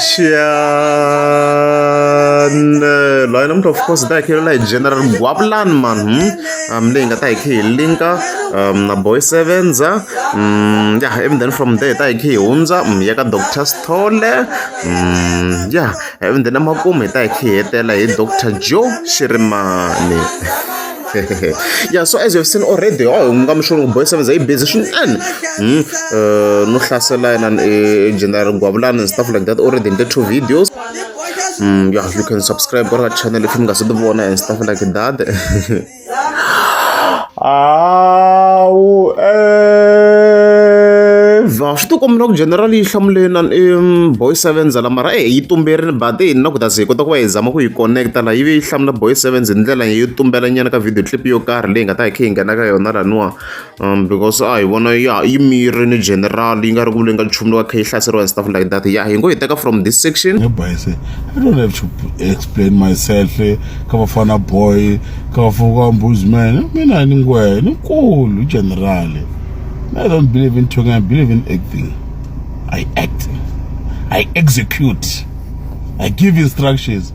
Chian line number of course that here like general guaplan man hmm um link at like here link um na boy sevens ah um yeah even then from there like here unza um ya ka doctor stole um yeah even then amakume like here tela hi doctor joe shirimani ya so as you have seen already wa oh, hunguka mixolo ku boys sevenza yi busy swinene hmm, eh, no hlasela yena eh, general gwavulani and stuff like that already in the two videos mm, yeah, you can subscribe go ka channel if mi nga se ti vona and stuff like that awu evha swi tikombela ku general yi hlamuleni na boy sevens la mara e yi tumberini but hi na ku ta ze hi kota ku va hi zama ku yi connecta laha yi ve yi hlamula boy sevens hi ndlela yo tumbela nyana ka video clip yo karhi leyi nga ta hi kha yi nghena ka yona laniwa um because a hi vona ya yi mirini general yi nga ri ku leyi nga nchumu lowa kha yi hlaseriwa and stuff like that ya hi ngo hi teka from this section bayise i don't have to explain myself ka bafana boy ka bafana ka mbuzman mina ni ngwe ni nkulu general i don't believe in talking i believe in acting i act i execute i give instructions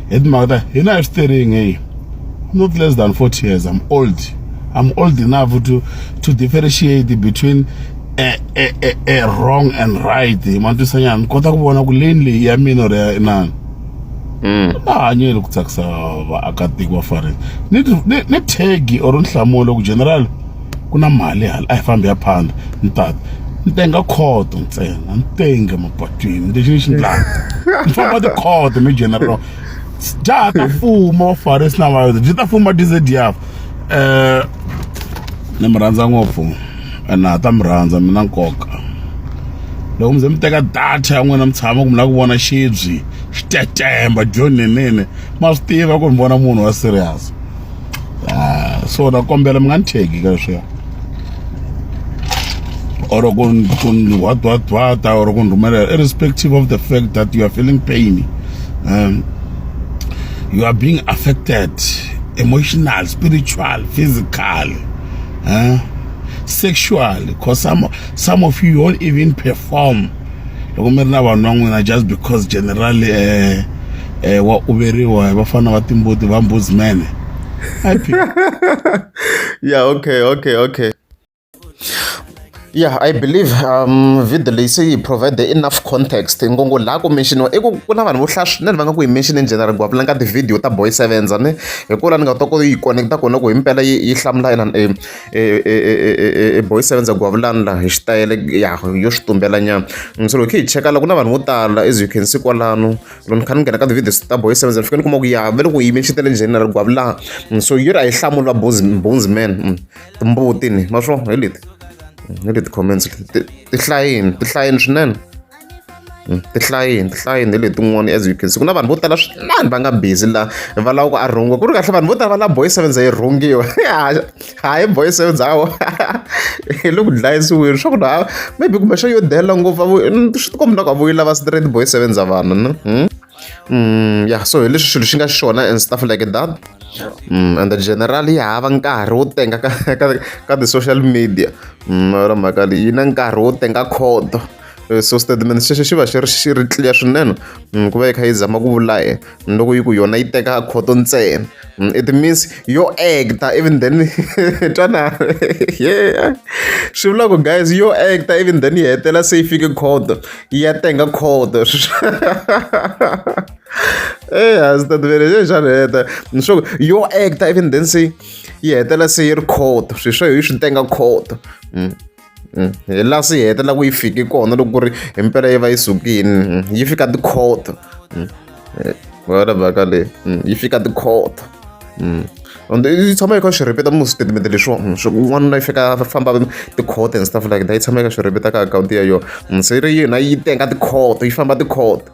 hi timhaka ta hina hi swi tering hey not less than 40 years i'm old i'm old enough to to differentiate between a, a, a, a wrong and right hi matwisanyana ni kota ku vona ku leni leyi ya mina or ya inani mm. a hanyeli ku tsakisa vaakatiko va fareni ni tegi or nhlamulo ku general ku na mali hala a hi fambi ya phanda ni tata ni tenga khoto ntsena ni tenge mapatwini lexi ni xi ndlaka ni famba tikhoto ni general dya ta fuma vafarisi na vayuda dyi ta fuma dzediyafa um eh, ni mi rhandza ngopfu ene ha ta mi rhandza mi na nkoka loko mi ze mi teka data ya n'wina mi tshama ku mi lava ku vona xibyi xitetemba dyonenene ma swi tiva ku mi vona munhu wa serious ah, so na kombela mi nga ni tshegi ka leswiya or ku ni hwadhwadhwata or ku ni rhumelela irrespective of the fact that you are feeling pain um, you are being affected emotional spiritual physical uh, sexual because some, some of you don't even perform loko mi ri na vanhu va n'wina just because general wa uveriwa hi vafana va timbuti va mbuzi mene ya okay okay okay yeah i believe um video leyi se yi provide enough context ngongo laha ku menxiniwa i ku ku na vanhu vo hlaya swinene va nga ku yi mention in general ku apulanga tivhidiyo ta boy sevenza ni hi ku la ni nga ta ku yi connect-a kona ku himpela yi yi hlamula inana e boys seven ndza ku vulavula laha hi xitayele ya yo swi tumbela nyana so loko hi yi cheka la ku na vanhu vo tala as you can see kwalano loko ni kha ni nghena ka ti-videos ta boys seven ni fika ni kuma ku ya ve loko yi yime xitele njhani na ri gwavulana so yi ri a yi hlamuli va bones man mm, timbuti ni ma swo hi leti hi leti comments ti hlayini ti hlayini swinene hmm, tihlayini tihlayini letin'wana as you can see ku na vanhu vo tala swinani va nga busy la va lava ku a rhungiwa ku ri kahle vanhu vo tala va lava boy sevens yi rhungiwa hayi boy sevens hawo hi le ku dlayisiweni swa ku na maybe kumbexana yo dela ngopfu swi tikombi na ku a vuyi lava straight boy sevens a vanhu na hmm? ya so hi leswi xilo xi nga xona and stuff like that and generally hava nkarhi wo tenga ka ka ka ti-social media ra mhaka leyi yi na nkarhi wo tenga khoto so statement xexo xi va xi ri xi ri clear swinene ku va yi kha yi zama ku vula yena loko yi ku yona yi teka khoto ntsena. Mm, it means yo actor even then twana yeah swi vula ku guys yo actor even then yi hetela se yi fike code yi ya tenga code eya swi tativele se xana heta ni swa ku yo actor even then se yi hetela se yi ri code swi swa hi swi tenga code mm. mm, hi laha swi hetelela ku yi fiki kona loko ku ri hi mpela yi va yi sukini mm, yi fika tikhoto mm, eh, wena mhaka leyi yi fika tikhoto and yi tshama yi kha swi rhipeta mu switatimende leswiwa swi n'wanuna yi fika famba tikhoto and stuff like that yi tshama yi kha swi rhipeta ka akhawunti ya yona se ri yona yi tenga tikhoto yi famba tikhoto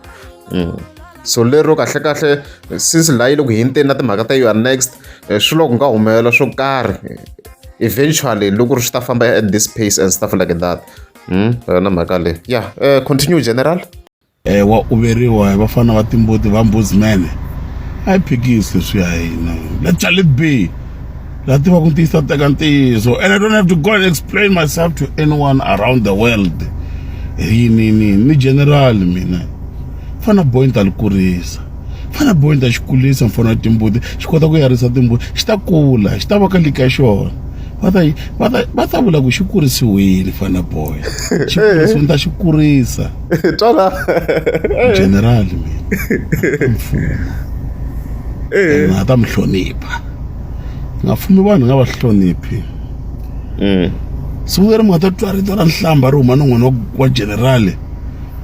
so lero kahlekahle since laha yi le ku hinteni na timhaka ta you are next eh, swi loko nga humelela swo karhi eventually loko ri swi ta famba at this pace and stuff like that hmm, yona mhaka leyi ya eh, continue general eh wa uveriwa hi vafana va timbuti va mbuzimene a yi phikisi leswi ya hina let shall it be la tiva ku ntiyisa teka ntiyiso and i don't have to go and explain myself to anyone around the world hi ni ni ni general mina fana boy ni ta li kurisa fana boy ni ta xi kulisa mfana timbuti xi kota ku yarisa timbuti xi ta kula xi ta va ka lika xona va ta va ta va ta vula ku xi kurisiwile fana boy xi kurisiwile ni ta xi kurisa twala general mina mfumo eh. a ta mi hlonipha nga fumi vanhu nga va hloniphi mm. siku leri mi nga ta twa rito ra nhlamba ri huma ni n'wana wa generale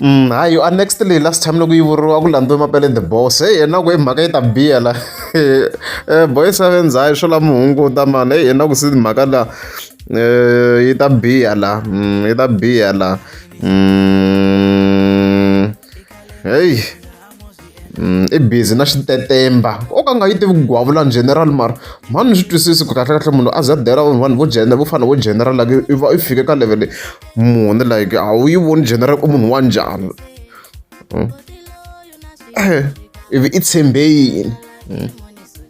Mm, hayi yo a next leyi last time loko yi vuriwa ku landziwe mapele the boss heyi yena ku i mhaka yi ta biya la um boy sevens hayi swo lama hunguta mani heyi yena ku si mhaka la um yi ta biya la mm, yi ta biya la mm, heyi Mm, i busy na xitetemba o ka nga yi tivi ku gwavula general mara mhani ni swi twisisi ku kahlekahle munhu a za dela vanhu vo jena vo fana vo general like i va i fike ka level muni like a wu yi voni general u munhu wa njhani mm. eh, ivi i tshembe yini mm.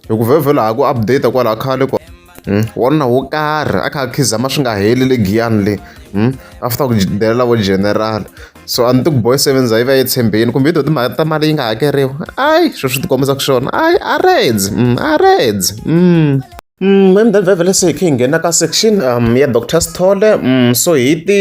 hi ku vhevhela ha ku update kwalaha khale kwa Hmm? wanuna wo karhi a kha a khizama swi nga heli le giyani le hmm? after ku delela vo general so a ni ti ku boy sevens a yi va yi tshembeni kumbe yi to timhaka ta mali yi nga hakeriwa ayi sweswi swi ti kombisa ku swona ayi a reds hmm, a reds Mhembe vhele se hi khe hi nghena ka section um ya Dr Sithole um so hi ti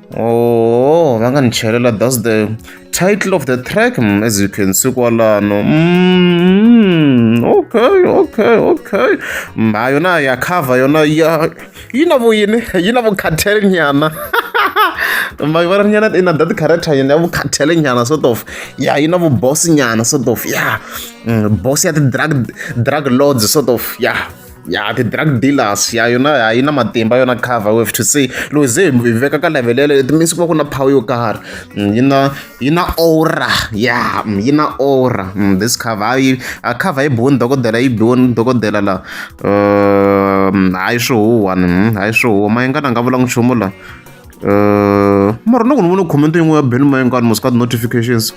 Oh, va nga ni chelela that's the title of the track mm, as you can see kwalano mm, okay okay okay mha mm, yona ya cover yona ya yi na vuyini yi na vukhathele nyana mhaka va ri nyana i na that character yona ya vukhathele nyana sort of ya yi na vuboss nyana sort of ya boss ya ti-drug drug lords sort of ya yeah. ya ti-drug dealers ya yona a yi na matimba yona cover we have to say loko ze hi veka ka level yaleyo it means ku va ku na power yo karhi mm, yi na yi na aura ya mm, yi na aura mm, this cover yi a cover yi biwoni dokodela yi biwoni dokodela la um, hayi swi huwani hayi swi huwa mayengana a nga vulanga nchumu la uh, mara loko ni vona comment yin'we ya ben mayengani mos ka ti-notifications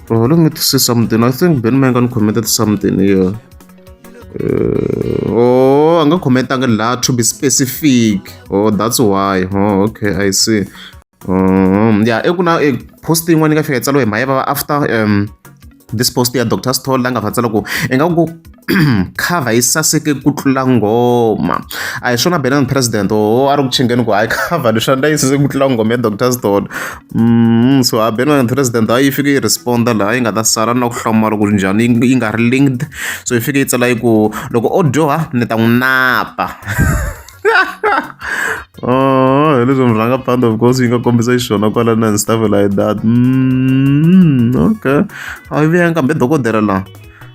uh, let me see something i think ben mayengani commented something here yeah. Uh, oh, a nga khomentanga laha to be specific oh that's why oh okay i see um ya eku na e post yin'wana yi nga fika yi tsaliwe hi mhayeva va after um this post ya dr stol la nga fa tsala ku i nga ku cover yi saseke ku tlula ngoma a hi swona benan president o a ri ku chingeni ku hayi cover leswi a ni ta yi saseke ku tlula ngoma ya dr stol Mm, so a beno and president a yi fike yi responda laha yi nga ta sala na ku hlamala ku ri njhani yi nga ri linked so yi fike yi tsala yi ku loko o dyoha ni ta n'wi napa oh hi leswi murhanga band of course yi nga kombisa xiswona kwala na and stuff like that mm, okay a yi vuyanga kambe dokodela laha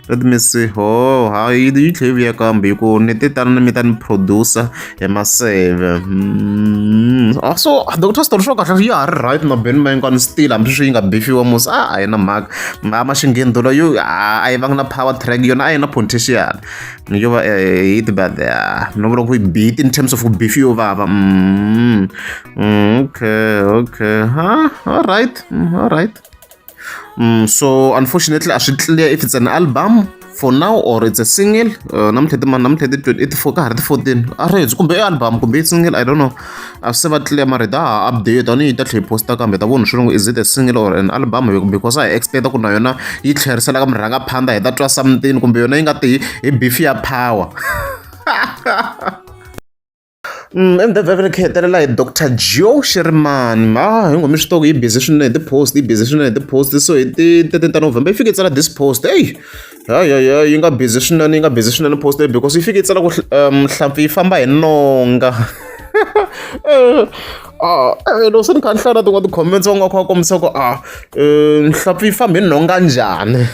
let me see ho ha yi yi tlhe yi vuya kambe hi ku ni te tani na mi ta ni producer hi maseve mm. ah, so ah, doctor story swo kahle ya ha ri right na beni ma hinkwana still hambi sweswi yi nga bifiwa musi a a yi na mhaka ma ma xingheni dolo yo a yi vanga na power track yona a yi na potential yo va eh, hit but ah, no vula ku yi beat in terms of ku bifi yo vava mm. mm, okay okay ha all right mm, all right Mm, so unfortunately a swi clear if it's an album for now or it's a single uh, namuntlha ti mani namuntlha ti twenty eight four ka ha ri ti fourteen a ri hedzi kumbe i album kumbe i single i don't know a swi se va clear mara hi ta ha update a ni yi ta tlhe yi posta kambe ta vona swilungu is it a single or an album because a hi expecta ku na yona yi tlherisela ka murhanga phanda hi ta twa something kumbe yona yi nga ti hi beef ya power Emdevhevhe ni khetelela hi doctor Geo Shirimani ha hi ngo mi swi tiva yi busy swinene hi ti-post yi busy swinene hi ti-post so hi ti thirteen ta November yi fike yi tsala this post eyi hayi hayi hayi yi nga busy swinene yi nga busy swinene post leyi because yi fike yi tsala ku nhlampfi yi famba hi nonga Ah, eh, loko swi ni kha ni hlaya tin'wana ti-comments va nga kha va kombisa ku a ah, eh, nhlampfi yi fambi nhonga njhani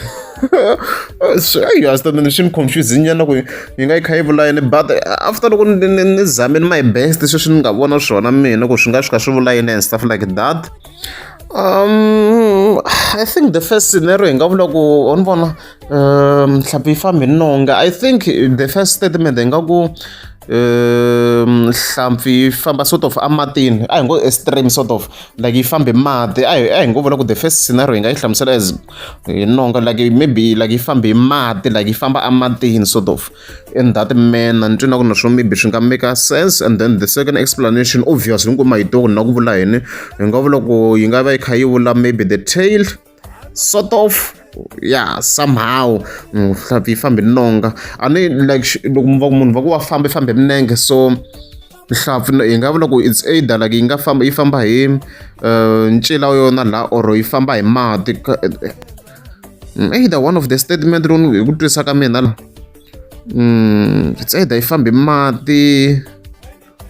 swiayas tani swi ni confuse nyana ku yi nga yi kha yi vula yini but eh, after loko ni zamini my best sweswi ni nga vona swona mina ku swi nga swi kha swi vula yini and stuff like that um i think the first scenario hi nga vula ku wa ni vona um nhlampfi yi fambi nonga i think the first statement hi nga ku um nhlampfi yi famba sort of ematini a hi ngo extreme sort of like yi fambe mati a hi a hi ngo vula ku the first scenario hi nga yi hlamusela as hi nonga like maybe like yi fambe hi mati like yi famba ematini sort of in that manner ni twina ku na swo maybe swi nga make sense and then the second explanation obviously ni ku mahito ku na ku vula yini hi nga vula ku yi nga va yi kha yi vula maybe the tail sort of ya somehow nhlampfi yi fambe nonga a ni like loko va munhu va ku wa famba yi fambe minenge so nhlampfi hi nga vula ku it's either like yi nga famba yi famba hi eh, ncila wa yona laha or yi famba hi mati mm, either one of the statement lowu hi ku twisaka mina la mm, it's either yi fambe mati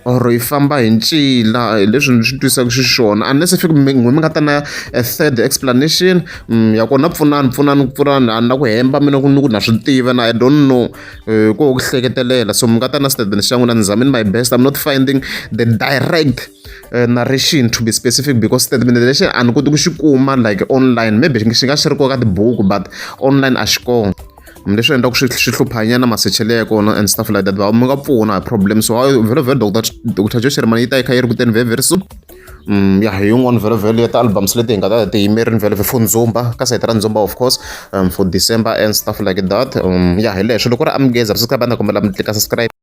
or yi famba hi ncila hi leswi ni swi twisaka xiswona unless if mi mi nga ta na a third explanation mm, ya kona pfunani pfunani pfunani a na ku hemba mina ku ni ku na swi tiva na i don't know eh, ko ku hleketelela so mi nga ta na statement xa n'wina ni zamini my best i'm not finding the direct Eh, narration to be specific because statement lexi a ni koti ku xi kuma like online maybe xi nga xi ri koka tibuku but online a xi kona leswi endlaka swi swi hluphanyana masechelo ya kona and stuff like that va mi nga pfuna hi problem so vhelo vhelo doctor doctor joe sherman yi ta yi kha yi ri kuteni very very soon Mm, ya hi yin'wana vhelovhelo ya ti-albums leti hi nga ta ti yimerini vhelovhe for ndzumba ka sayiti ra ndzumba of course um, for december and stuff like that um, ya hi leswo loko ri amgeza ri swi ka va na kombela mi tlika subscribe